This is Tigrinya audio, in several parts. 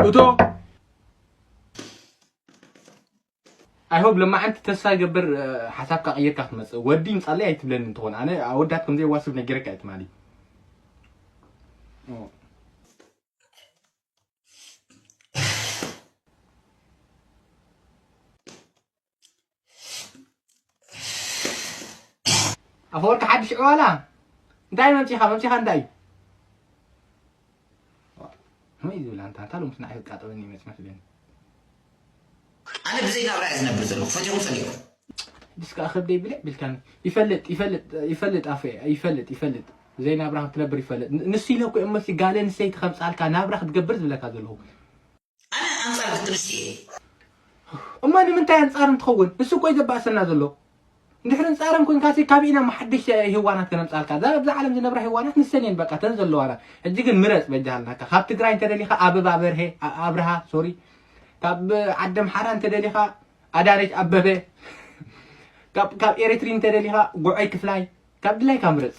እቶ ኣይ ሆፕ ለማዓንቲ ተስፋ ይገብር ሓሳብካ ቀይርካ ክትመፅእ ወዲ ንፃለይ ኣይትብለኒ እንትኾን ኣነ ኣወዳት ከምዘይዋስብ ነጊረካ እየ ትማሊ ኣፈወርቂ ሓድሽ ዕዋላ እንታይ መምፂኻ መምፂኻ እንታይ እዩ ወይ ዝብል ኣንታ እንታ ሎምስ ንዓይ ዝቃጠበኒ ይመፅ መስለኒ ኣነ ብዘይ ናብራ እየ ዝነብር ዘለኹ ፈቲኹም ፀሊእኩም ድስ ከዓ ከብደይ ብልዕ ብልካኒ ይፈልጥ ይፈልጥ ይፈልጥ ኣፈ ይፈልጥ ይፈልጥ ብዘይ ናብራ ክትነብር ይፈልጥ ንሱ ኢለ እኮ እሞ ጋል ኣንስተይቲ ከምፃልካ ናብራ ክትገብር ዝብለካ ዘለኹ ኣነ ኣንጻር ግጥምሲ እየ። እሞ ንምንታይ ኣንጻር እንትኸውን ንሱ እኮ እዩ ዘባእሰና ዘሎ እንድሕሪ ኣንጻረን ኮንካሲ ካብ ኢና ሓድሽ ህዋናት ከነምጻልካ እዛ ኣብዛ ዓለም ዝነብራ ህዋናት ንሰን እየን በቃ ተን ዘለዋና ሕጂ ግን ምረጽ በጃሃልናካ ካብ ትግራይ እንተደሊኻ ኣበባ በርሄ ኣብርሃ ሶሪ ካብ ዓዲ ኣምሓራ እንተደሊኻ ኣዳነች ኣበበ ካብ ኤሪትሪ እንተደሊኻ ጉዐይ ክፍላይ ካብ ድላይካ ምረጽ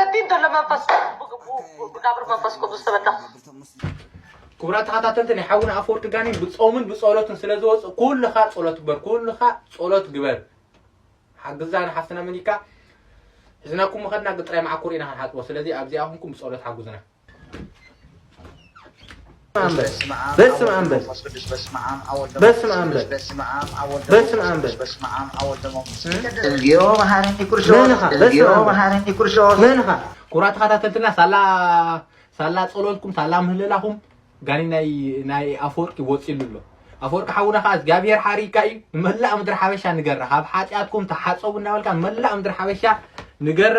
ሰቲን ዘሎ መንፈስ ብጋብር መንፈስ ቅዱስ ተበዳ ክቡራት ተኸታተልቲ ናይ ሓውና ኣፈወርቂ ጋኔን ብፆምን ብፀሎትን ስለ ዝወፅእ ኩልኻ ፀሎት ግበር ኩልኻ ፀሎት ግበር ሓግዛ ንሓፍትና መኒካ ሕዝናኩም መኸድና ግጥራይ መዓኮር ኢና ክንሓፅቦ ስለዚ ኣብዚኣ ኩንኩም ብፀሎት ሓጉዝና በስመ አብ በል በስመ አብ በስመ አብ በል እግዚኦ መሐረኒ ኩርሾ መንኻ በስመ እግዚኦ አብ በል መሐረኒ ኩርሾ መንኻ ኩራ ተኸታተልትና ሳላ ሳላ ጸሎትኩም ሳላ ምህለላኹም ጋኒ ናይ ናይ ኣፈወርቂ ወጺሉ ኣሎ ኣፈወርቂ ሓውና ከዓ እግዚኣብሔር ሓሪካ እዩ ንመላእ ምድሪ ሓበሻ ንገራ ካብ ሓጢኣትኩም ተሓፀቡ እናበልካ ንመላእ ምድሪ ሓበሻ ንገራ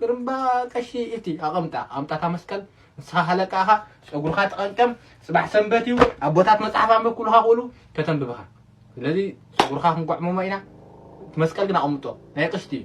ግርምባ ቀሺ ኢልቲ ኣቐምጣ ኣምጣታ መስቀል ንስኻ ሃለቃ እኻ ጸጉርኻ ተቐንቀም ጽባሕ ሰንበት እዩ ኣቦታት መጽሓፍ ኣንብብ ኩሉኻ ክእሉ ከተንብብኻ ስለዚ ጸጉርኻ ክንጓዕመሞ ኢና እቲ መስቀል ግን ኣቐምጦ ናይ ቅሽቲ እዩ